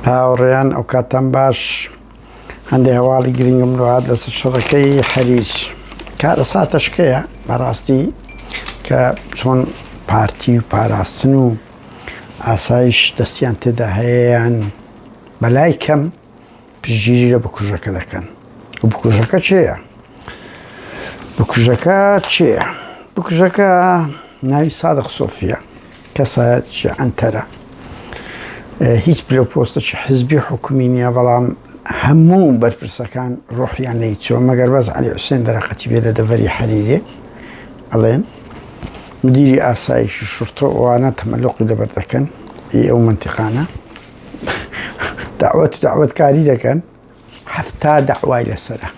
هاوڕێیان ئەوکاتان باش هەندێک هەواڵی گرنگم لەات لەسەر شەڕەکەی حەریج کارە ساتەشکەیە بەڕاستی کە چۆن پارتی و پاراستن و ئاسایش دەستیان تێدا هەیەیان بەلای کەم پشتگیری لە بکوژەکە دەکەن و بکوژەکە چێە بکوژەکە چێە بکوژەکە ناوی سادق سۆفیە کەسایەت ئەنتەرە هیچ پلە پۆستەی حزبی حکومی نییە بەڵام هەموو بەرپرسەکان ڕۆحیان لی چۆ مەگەر بەس علی حوسێن دەرەقەتی بێ لە دەڤەری حەریرێ ئەڵێن مدیری ئاسایشی شورتە ئەوانە تەمەلقی لەبەر دەکەن ئەو منتیقانە داوەت داوەت کاری دەکەن هەفتا داوای لەسرە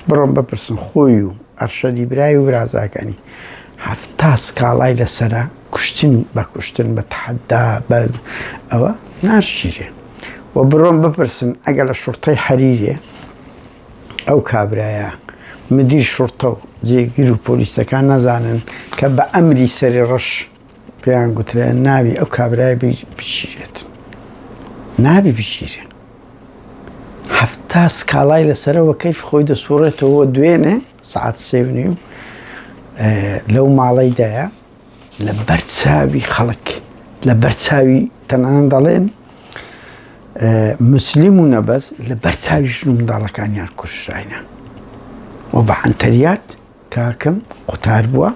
بڕۆم بپرسن خۆی و ئەرشەدی برای و برازاکانی هەفتا سکاڵای لەسرە کوشتن بە کوشتن بە تحدا بە ئەوە ناشیرێ و بڕۆم بپرسن ئەگە لە شوڕتەی حەریرێ ئەو کابرایە مدیر شوڕتە و جێگر و پۆلیسەکان نەزانن کە بە ئەمری سەری ڕەش پێیان گوترێ نابی ئەو کابرای بگیرێت نابی بگیرێ هەفتا سکاڵای لەسەرەوە کەیف خۆی دەسوڕێتەوە دوێنێ سعات سێونی و لەو ماڵەیدایە لە بەرچاوی خەڵک لە بەرچاوی تەنان دەڵێن مسلیم و نەبەز لە بەرچاوی ژن و منداڵەکانیان کوشراینە و بە عەنتەریات کاکم قوتار بووە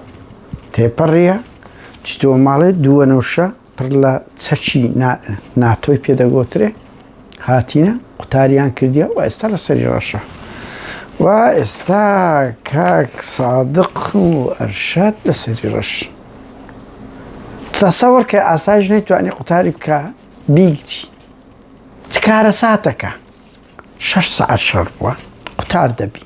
تێپەڕیە چتەوە ماڵێ دووەنەوشە پڕ لە چەکی ناتۆی پێدەگۆترێ هاتینە قوتاریان کردیە و ئێستا لە سەری ڕەشە و ئێستا کاک سادق و ئەرشاد لە سەری ڕەش تەسەوەر کە ئاسایش نەیتوانی قوتاری بکە بیگچی چکارە ساتەکە شش سعات شەڕ بووە قوتار دەبی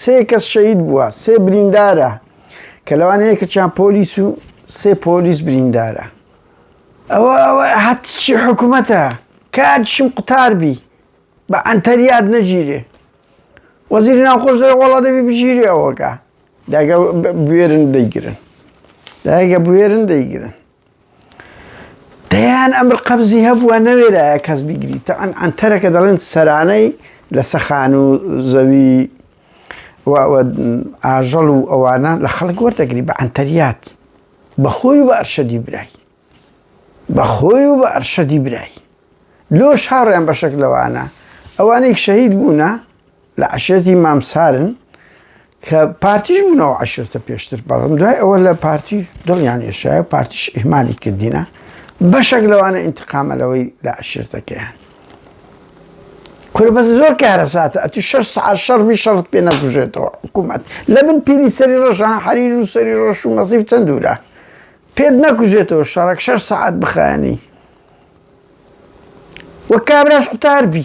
سێ کەس شەهید بووە، سێ بریندارە کە لەوان یەکێکیان پۆلیس و سێ پۆلیس بریندارە. ئەوە ئەوە هەتچی حکوومەتە کاتشم قوتار بی بە ئەنتەریاد نەگیرێ وەزیری ناوخۆش دەێ وەڵا دەبی بگیری ئەوەکە داگە بوێرن دەیگرن داگە بوێرن دەیگرن دەیان ئەمر قەبزی هەبووە نەوێرایە کەس بیگری تەعەن ئەنتەرەکە دەڵێن سەرانەی لە سەخان و زەوی ئاژەڵ و ئەوانە لە خەڵک وەردەگری بە ئەنتەریات بەخۆی بە ئەرشەدی برای بەخۆی و بە ئەرشەدی برای لۆ شاڕیان بەشەک لەوانە ئەوانێک شەهید بوونە لە عشێتی مامسارن کە پارتیش بوونە و عشرتە پێشتر بەڵم دوای ئەوە لە پارتی دڵیان یشایە و پارتیش ئیهمانی کردینە بەشێک لەوانە ئینتقامە لەوەی لە عشرتەکەیان کورە بەس زۆر کارەساتە ئەتی شەش سعات شەڕبی شەڕت پێ نەبژێتەوە حکوومەت لە بن پیری سەری ڕۆژان حەریر و سەری ڕۆژ و مەسیف چەند دوورە پێت نەکوژێتەوە شەڕک شەش سعات بخانی وە کابراش قوتار بی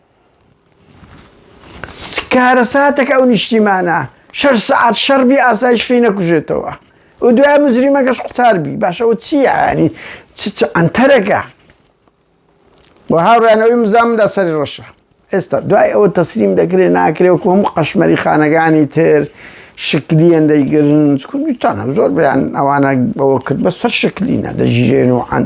کارەساتەک ئەو نیشتیمانە شەش سعات شەڕبی ئاسایش پێی نەکوژێتەوە و دوای مزریمەکەش قوتاربی باشەوە چیانی ئەتەرەکە و هاوڕانەوەی مزام لە سەری ڕەشە ئێستا دوای ئەوە تەسلیم دەکرێ ناکرێ و کۆم قەشمەری خانەکانی تر شکلیان دەیگرن کوردستانە زۆر بیان ئەوانە بەوە کرد بە سەر شکلینە دەژیرێن و عەن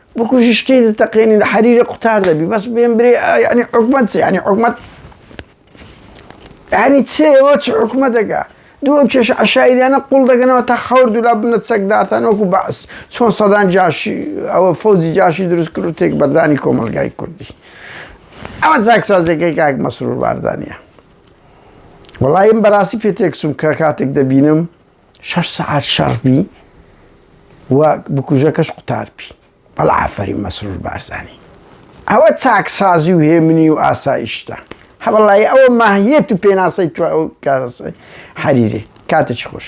بکوژی شتی دەتەقێنی لە حەریرە قوتار دەبی بەس بێن برێ یعنی حکومەت چ یعنی حکومەت یعنی چێ ئەوە چ حکومە دەگا دوو ئەو کێشە عشایریانە قوڵ دەگەنەوە تا خەور دولا بنە چەکدارتان وەکو بەعس چۆن سەدان جاشی ئەوە فەوجی جاشی دروست کرد و تێک بەردانی کۆمەلگای کوردی ئەوە جاکسازەکەی کاک مەسرور باردانە وڵایم بەڕاستی پێ تێکسوم کە کاتێک دەبینم شەش سەعات شەڕ بی و بکوژەکەش قوتار بی بەڵا ئافەری مەسرور بارزانی ئەوە چاکسازی و هێمنی و ئاسایشتە هەوڵی ئەوە ماهیەت و پێناسەی تو ئەو کارەسەی حەریرێ کاتێکی خۆش